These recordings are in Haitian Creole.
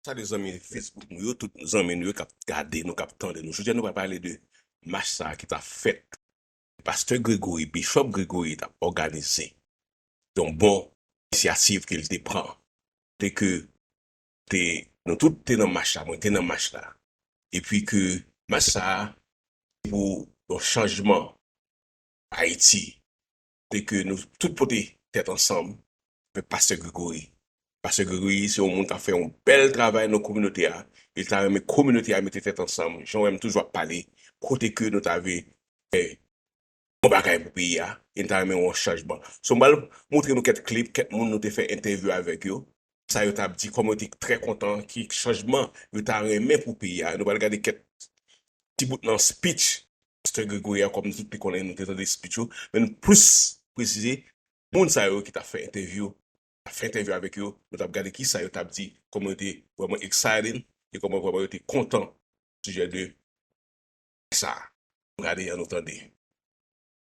Salye zanmi Facebook nou yo, tout zanmi nou yo kap gade nou, kap tande nou. Jodi a nou pral pale de mach sa a ki ta fèt, pastè Gregory, Bishop Gregory ta òganize. Se yon bon inisyativ ke li te pran. Kote ke te, nou tout te nan mach la, mwen te nan mach la. E pi ke mach sa a se pou yon chanjman Ayiti. e ke nou tout pote tèt ansanm avèk pastè Gregory. Pastè Gregory se yon moun kap fè yon bèl travay nan kominote a e li ta renmen kominote a mete tèt ansanm jan ou wèm toujou ap pale kote ke nou ta vle fè bon bagay pou peyi a e nou ta renmen wè yon chanjman. So m pral montre nou kèt klip kèt moun nou te fè entèvyou avèk yo sa yo tap di, kòman yo te trè kontan, ki chanjman yo ta renmen pou peyi a. Nou pral gade kèk ti bout nan speech Mister Gregory a, kòm nou tout te konnen, nou te tande speech yo, men nou plis presize moun sa yo ki ta fè entèvyou, ta fè entèvyou avèk yo, nou tap gade kisa yo tap di, kòman yo te vrèman excited, e kòman vrèman yo te kontan au sujet de sa. Nou gade an nou tande.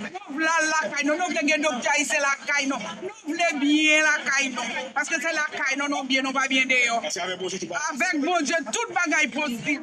Nou vle al lakay nou, nou vle gen doktè ayisyen lakay nou, nou vle byen lakay nou, paske se lakay nou nou byen nou pa byen deyò. Avèk Bondye tout bagay posib.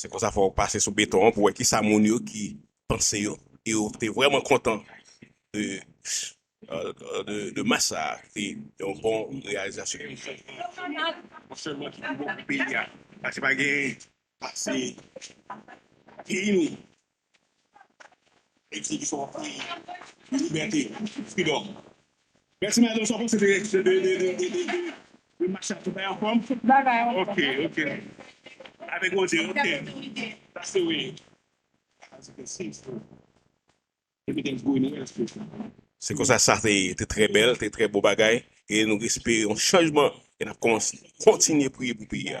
Se konsa fò ou pase sou beton an pou wè kisa moun yo ki panse yo e yo te vrèman kontan de de match sa a ki te yon bon reyalizasyon. Ou sèlman ki pi bon pou peyi a. Pase pa gen pase peyi nou. Se konsa sa se te trè bèl te trè bon bagay e nou espere yon chanjman e nap kontinye priye pou peyi a.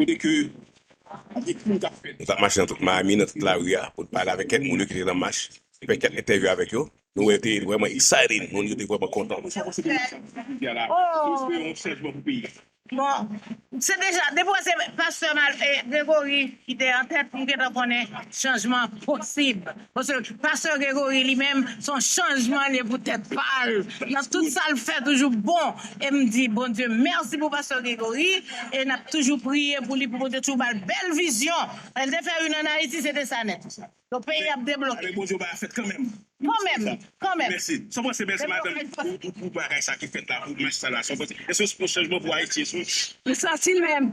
Kote ke anpil moun tap fè. Nou tap mache nan tout Miami, nan tout lari a, pou n pale avèk kèk moun yo ki te nan mach, e fè kèk entèvyou avèk yo. Nou wè te vrèman exciting, moun yo te vrèman kontan. Mwen santi se deja sa ki di a la, nou espere yon chanjman pou peyi a. Bon, se deja, depi wè se Pastè Gregory ki te antèt, nou gentan konnen chanjman posib. Paske pastè Gregory li menm son chanjman liye pou tèt pal nan tout sal fè toujou bon em di Bondye mèsi pou pastè Gregory e nap toujou priye pou li pou Bondye toujou bal bèl vizyon lèl te fè yn an Ayiti se te sa nèt donk peyi ap debloke. Avèk Bondye bagay ap fèt kanmèm. Kanmèm, kanmèm. Mèsi. Sa w panse mèsi madanm pou bagay sa ki fèt la pou match sa la sa w panse eske se yon chanjman pou Ayiti esou. Pou sa si menm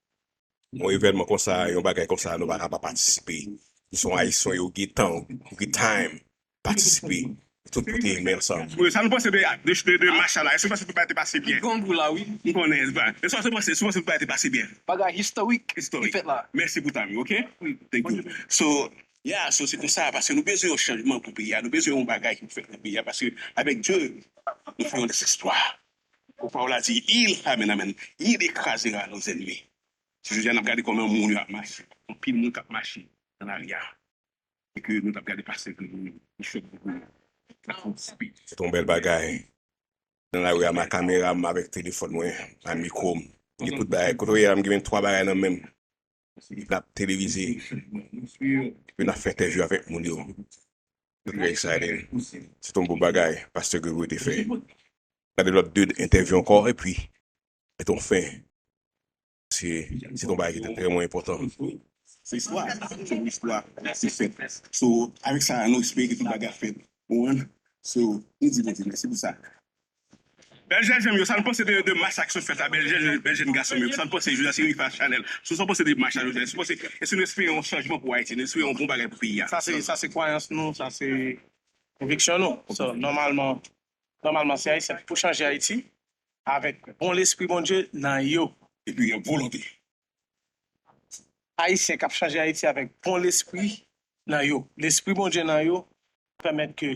Yon evènman konsa, yon bagay konsa nou pa ka pa patisipe. Nou son Ayisyon yo gen tan, yo gen time patisipe. Tout kote men ansanm. Sa nou panse de mach sa la? Èske nou panse tout bagay te pase byen? M konnen. Èske nou panse tout bagay te pase byen? Bagay historik ki fèt la. Mèsi pou time ou ok. Thank you. So, yeah, so se konsa paske nou bezwen yon chanjman pou peyi a. Nou bezwen yon bagay ki pou fèt nan peyi a paske avèk Dye nou fè yon dezespwa. Kou paw la di il amen amen il ekrazera nos ennemis se jodi a nap gade koman moun yo ap mache anpil moun kap mache nan lari a e ke nou tap gade pastè vre moun yo chòk pou moun yo ap antisipe. Se te yon bèl bagay nan lari a ma kamera m avèk telefòn mwen a mikro m gen tout bagay kote w ye a m genmen 3 bagay nan menm Nap televize epi nap fè entèvyou avèk moun yo I'm very excited Se t yon bon bagay Pastè Gregory te fè Gade lòt 2 entèvyou ankò epi met yon fen Se t yon bagay ki te vrèman enpòtan Se istwa Se yon istwa ki fèt So avèk sa nou espere ke tout bagay ap fèt Ou konprann So nou di Bondye mèsi pou sa Bèl jèn janm yo sa nou panse de de mach sa ki sot fèt la bèl jèn bèl jèn gason yo sa nou panse jodi a se rifa chanèl sou sa nou panse de mach sa nou fè sou panse èske nou espere yon chanjman pou ayiti nou espere yon bon bagay pou peyi a sa se sa se kwayans nou sa se konviksyon nou so nòmalman nòmalman se ayisyen ki pou chanje ayiti avèk bon lespri bondye nan yo epi yon volonte ayisyen kap chanje ayiti avèk bon lespri nan yo lespri bondye nan yo pèmèt ke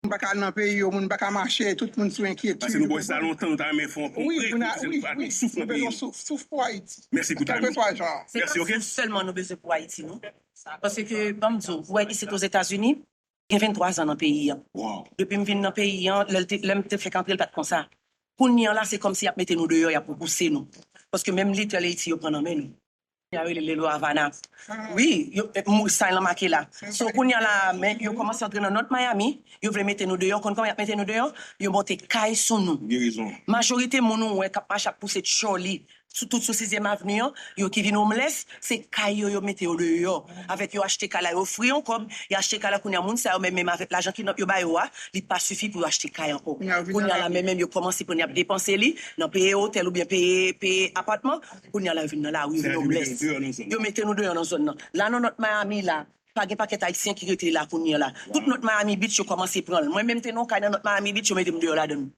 Moun pa ka al nan peyi yo, moun pa ka mache, tout moun sou enkyetid. Pase nou bò sa lontan nou ta renmen fè yon kongrè pou nou fè pran yon souf nan peyi nou. Wi, souf pou Ayiti. Mèsi pou time ou. Kèlkeswa jan an. Se pa souf sèlman nou bezwen pou Ayiti non. Pase ke ban m di w, ou wè isit Ozetazini, gen 23 zan nan peyi an. Depi m vin nan peyi an, lè m te fèk antre l pa t konsa. Kounye an la se kòmsi y ap mete nou deyò, y ap repouse nou. Paske menm little Ayiti yo pran nan men nou. Kounya rele lelo avana wi yo say lan make la so kounya la men yo komanse antre nan not miami yo vle mete nou deyò w konn koman yap mete nou deyò yo monte kay sou nou majorite moun ou wè kap mache ap pouse tchòli sou tout sou sizyèm avni an yo ki vin omlès se kay yo yo mete yo deyò avèk yo achte kay la yo ofri yon kòb yo achte kay la kounya moun sa yo menm menm avèk lajan kidnap yo ba yo a li pa sifi pou yo achte kay ankò kounya la menm menm yo komanse pran yap depanse li nan peye otèl oubyen peye peye apatman Kounye a la yo vin nan lari, yo vin homeless. Yo mete nou deyò nan zòn nan. La nan North Miami la, pa gen pakèt Ayisyen ki rete la kounye a la. Tout North Miami Beach yo kòmanse pran l. Mwen menm te nan yon kay nan North Miami Beach, yo mete m deyò ladan l.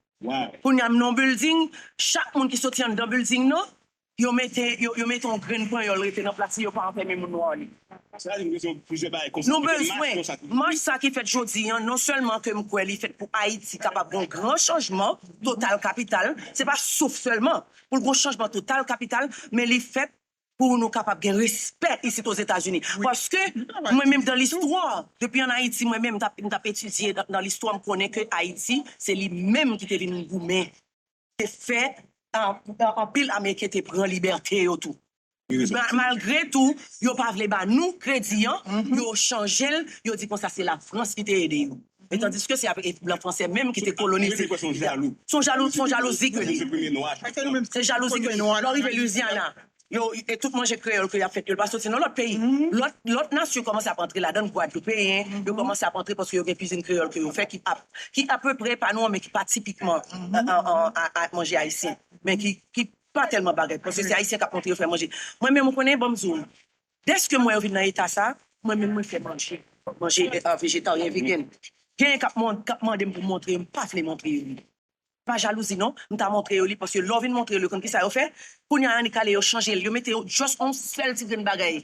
Kounye a m nan yon building, chak moun ki soti anndan building nan, yo mete yo mete yon grenn panyòl rete nan plas li, yo pa anfème moun nwa li. Nou bezwen mach sa ki fèt jodi an, non sèlman ke m kwè li fèt pou Ayiti kapab gen yon gran chanjman total kapital, se pa souf sèlman, pou l gon chanjman total kapital men li fèt pou nou kapab gen respè isit ozetazini paske mwen menm dan listwa depi an ayiti mwen menm m tap etidye dan listwa m konnen ke ayiti se li menm ki te vin goumen te fè anpil ameriken te pran libète yo tou. Malgre tou yo pa vle ba nou kredi an, yo chanje l, yo di konsa se Lafrans ki te ede yo. E tandiske se ap blan franse menm ki te kolonize. Yo se jalou. Se yon jalou, se yon jalouzi ke li. Se jalouzi ke nou an. Lè w rive Louisiana, yo, e tout manje kreyòl ke y ap fè, yo pa soti nan lòt peyi. Lòt, lòt nasyon kòmanse ap antre ladann, Gwadloupeyen, yo kòmanse ap antre paske yo gen kizin kreyòl ke yo fè ki ap, ki apeprè pa nou an men ki pa tipikman manje ayisyen. Men ki, ki, Pa tèlman bagay panse se ayisyen kap montre yo fè manje mwen menm ou konnen banm di w dèske m wè yo vin nan eta sa mwen menm mwen fè manje manje vejetaryen vegen genyen kap mond kap mande m pou m montre yo m pa vle montre yo li pa jalouzi non m ta montre yo li paske lè w vin montre yo li yo konn kisa yo fè kounya annik ale yo chanje l yo mete yo just on sèl ti grenn bagay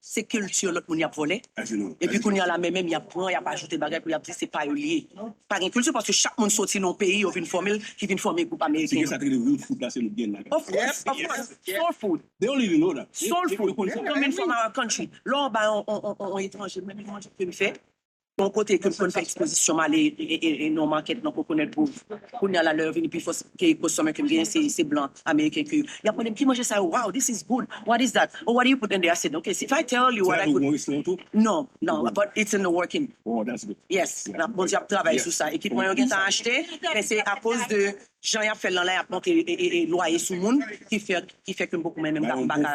Se culture lot moun yap vole. Epi kounya la men menm yap pran yap ajoute bagay pou yap di se pa yo liye. Pa gen culture paske chak moun soti nan yon peyi yo vin fòmel ki vin fòme group ameriken yo. Se konsa yo rele real food la se nou gen la. Of course of course soul food. They don't even know that. Soul food coming from our country. Lè w ba yon etranje menm manje ke li fè. Bon kote ke m konn fè ekspozisyon m ale e non makèt nan Coconut Grove kounya la lè yo vini pi fò ke kostomè ke m genyen se blan ameriken ke y ap mande m ki manje sa yo wow this is good what is that oh what do you put in there I said ok if I tell you what I put non non but it's in the working oh that's good yes Bondye ap travay sou sa ekipman yo gentan achte men se akoz de jan y ap fè l lan la y ap monte lwaye sou moun ki fè ke m poko menm m pa ka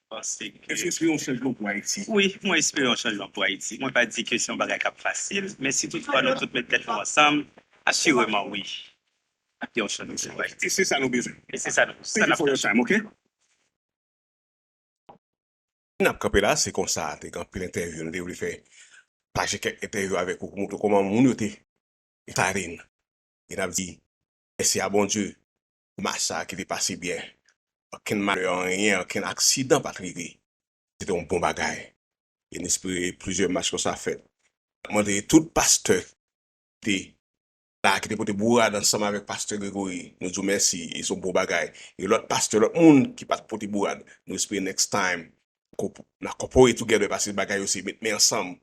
Èske w espere yon chanjman pou Ayiti? Wi, mwen espere yon chanjman pou Ayiti. Mwen pa di ke se yon bagay k ap fasil, men si tout fwa nou tout met tèt nou ansanm, asireman wi, ap gen yon chanjman pou Ayiti. E se sa nou bezwen. E se sa nou bezwen. Thank you for your time, ok. N ap kanpe la, se konsa te gen anpil entèvyou nou te vle fè, pataje kèk entèvyou avèk ou pou montre w kòman moun yo te farine. E n ap di mèsi a Bondye Match sa ki te pase byen. Okenn malè anyen, okenn aksidan pat rive. Se te yon bon bagay. E n espere plizyè match konsa fèt. N ap mande tout pastè ki te la, ki te pote bourad ansanm avèk pastè Gregory, nou di w mèsi e se yon bon bagay. E lòt pastè, lòt moun ki pat pote bourad, nou espere next time n a corporate together pase bagay yo se met men ansanm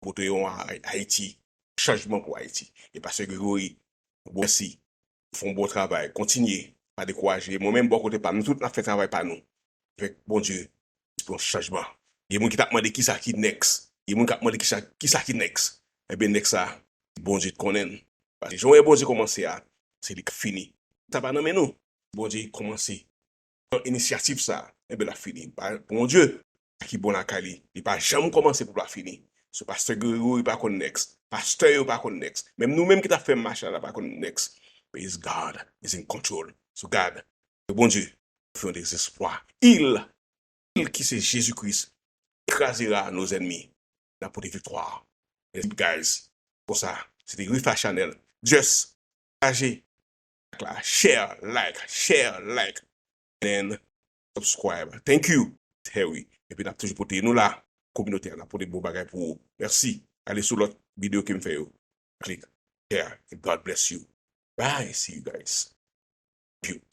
pou pote yon Ayiti, chanjman pou Ayiti. E pastè Gregory, yon gwo mèsi fon bon travay kontinye pa dekouraje mwen menm bò kote pam nou tout nap fè travay pa nou avèk Bondye pran chanjman gen moun ki tap mande kisa ki next gen moun kap mande kisa kisa ki next ebyen next la Bondye t konnenl paske jan ou wè Bondye kòmanse a se li kap fini sa pa nan men nou Bondye kòmanse pran inisyativ sa a, enben l ap fini. Bondye, ki bon lakay li, li pa janm kòmanse pou l pa fini. Sou pastè Gregory pa konn next, pastè yo pa konn next, menm nou menm ki t ap fè mach la la pa konn next, base God is in control. Sou gad, ke Bondye fè yon dezespwa, il, il ki se Jezi Kris ekrazera nos ennemis, l ap pote viktwa a. Mèsi guys, konsa, se te Riffa Chanel, just pataje. la share like share like and subscribe thank you terry epi nap toujou pote nou la kominote a nap pote bon bagay pou ou merci ale sou lot video kem fè yo click share and God bless you bye see you guys beaut.